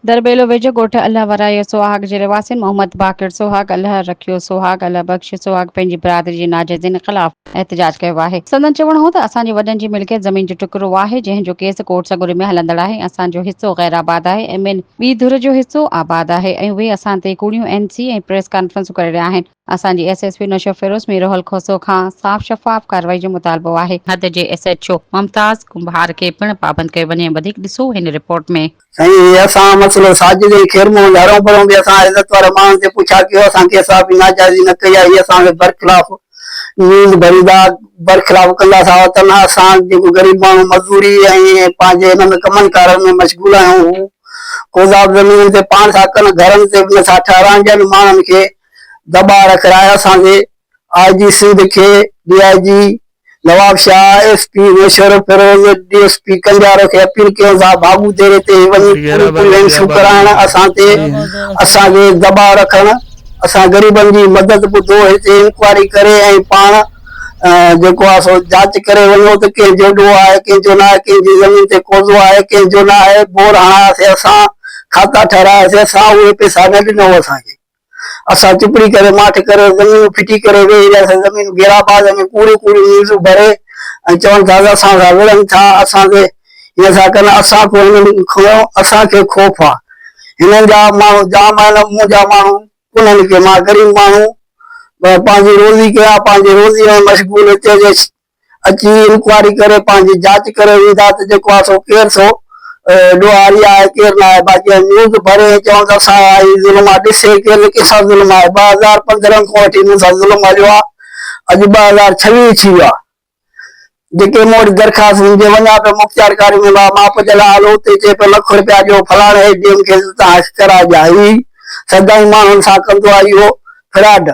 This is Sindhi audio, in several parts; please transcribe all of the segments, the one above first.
درٻيلو ويجهو ڳوٺ الهه ورائي سوهاڳ جي رهواسين محمد باقر سوهاڳ الهه رکيو سوهاڳ الهه بخش سوهاڳ پنهنجي برادري جي ناجائزين خلاف احتجاج ڪيو آهي سندن چوڻ هو ته اسان جي وڏن جي ملڪيت زمين جو ٽڪرو آهي جنهن جو ڪيس ڪورٽ سڳوري ۾ هلندڙ آهي اسان جو حصو غير آباد آهي ۽ ٻين ٻي ڌر جو حصو آباد آهي ۽ اهي اسان تي ڪوڙيون اين سي ۽ پريس ڪانفرنسون ڪري رهيا آهن. اسان جي S S P Naushahro Feroze Mir Rahul Khoso کان صاف شفاف ڪارروائي جو مطالبو آهي. حد جي S H O Mumtaz Kumbhar کي پڻ پابند ڪيو وڃي وڌيڪ ڏسو هن رپورٽ ۾. سائين هي اسان مسئلو ساجد ۽ خير محمد هرون ڀرون به اسان عزت وارن ماڻهن تي پڇا ڪيو اسان ڪي صحافي ناجائزي نه ڪئي آهي هي اسان کي برخلاف نيند ڀريندا برخلاف ڪندا سا وتن اسان جيڪو غريب ماڻهو مزوري ۽ پنهنجي هن ۾ ڪمن ڪارن ۾ مشغول آهيون هو ڪوزاب زمينن تي پاڻ ٿا ڪن گهرن تي به نه ٿا ٺهرائن ٻين ماڻهن کي دٻاء رک راء اسان جي آء جي سنڌ کي D I G Nawabshah, S P Naushahro Feroze, D S P Kanjaro کي اپيل ڪيون ٿا ڀاڳو ديري تي وڃي پوري پوري لينسون ڪرائڻ اسان تي اسان جي دٻاء رکڻ اسان غريبن جي مدد ٻڌو هتي انڪوائري ڪري ۽ پاڻ جيڪو آهي سو جاچ ڪري وڃو ته ڪنهن جو ڏوهه آهي ڪنهن جو ناهي ڪنهن جي زمين تي قوضو آهي ڪنهن جو ناهي بور هڻاياسي اسان کاتا ٺهراياسي اسان اهي پيسا نه ڏنو اسان کي اسان چپڙي ڪري ماٺ ڪري زمينون ڦٽي ڪري ويهي رهياسين زمينون گيرا باز ۾ ڪوڙيون ڪوڙيون نيزون ڀري ۽ چون ٿا ته اسان سان وڙهن ٿا اسان تي هين ٿا ڪن اسان کون هنن کون اسان کي خوف آ هنن جا ماڻهو جام آهن منهنجا ماڻهو ڪونهن ڪي مان غريب ماڻهو پنهنجي روزي ڪيان پنهنجي روزي ۾ مشغول هتي جي اچي انڪوائري ڪري پنهنجي جاچ ڪري ويندا ته جيڪو آهي سو ڪير سو ڏوهاري آهي ڪير نه آهي باقي اهي نيوز ڀري ۽ چون ته اسان اهي ظلم آهي ڏسي ڪير نه ڪنهن سان ظلم آهي ٻه هزار پندرهن کان وٺي انهن سان ظلم هليو آهي اڄ ٻه هزار ڇويهه ٿي ويو آهي جيڪي مون وٽ درخواست هن جي وڃان پيو مختيارڪاري ۾ مان ماپ جي لاء هلو اتي چئي پيو لک رپيا ڏيو فلاڻي اي ڊي ايم کيس اتان هش ڪرائجان هي سدائين ماڻهن سان ڪندو آهي اهو فراڊ.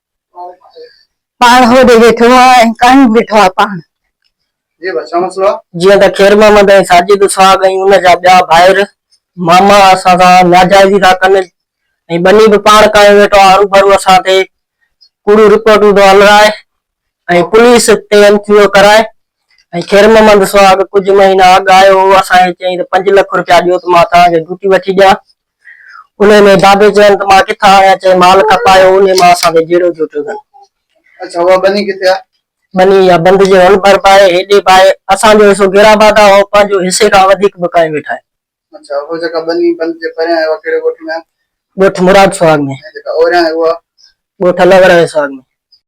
پاڻ هوڏي ويٺو آ ۽ ڪاهين ويٺو آ پاڻ. جيئن ته خير محمد ۽ ساجد سهاڳ ۽ ان جا ٻيا ڀائر ماما اسان سان ناجائزي ٿا ڪن ۽ ٻني به پاڻ ڪاهين ويٺو آ هروڀرو اسان تي ڪوڙيون رپورٽون ٿو الرائي ۽ پوليس تي ان ٿيو ڪرائي ۽ خير محمد سهاڳ ڪجهه مهينا اڳ آيو هو اسان کي چيائين ته پنج لک رپيا ڏيو ته مان توهان کي ڊوٽي وٺي ڏيان انهيء ۾ بابي چين ته مان ڪٿان آڻيان؟ چئي مال کپايو، انهيء مان اسان کي جهيڙو ٿيو چوڌن. اڇا اها ٻني ڪٿي آهي؟ ٻني يا بند جي هن ڀر به آهي، هيڏي به آهي. اسان جو حصو گيڙا بادا هو، پنهنجو حصي کان وڌيڪ به ڪاهي ويٺا آهن. اڇا اها جيڪا ٻني بند جي پريان آهي، اها ڪهڙي ڳوٺ ۾ آهي؟ ڳوٺ مراد سهاڳ ۾. ۽ جيڪا اوريان آهي اها؟ ڳوٺ الهوڙا ۽ سهاڳ ۾.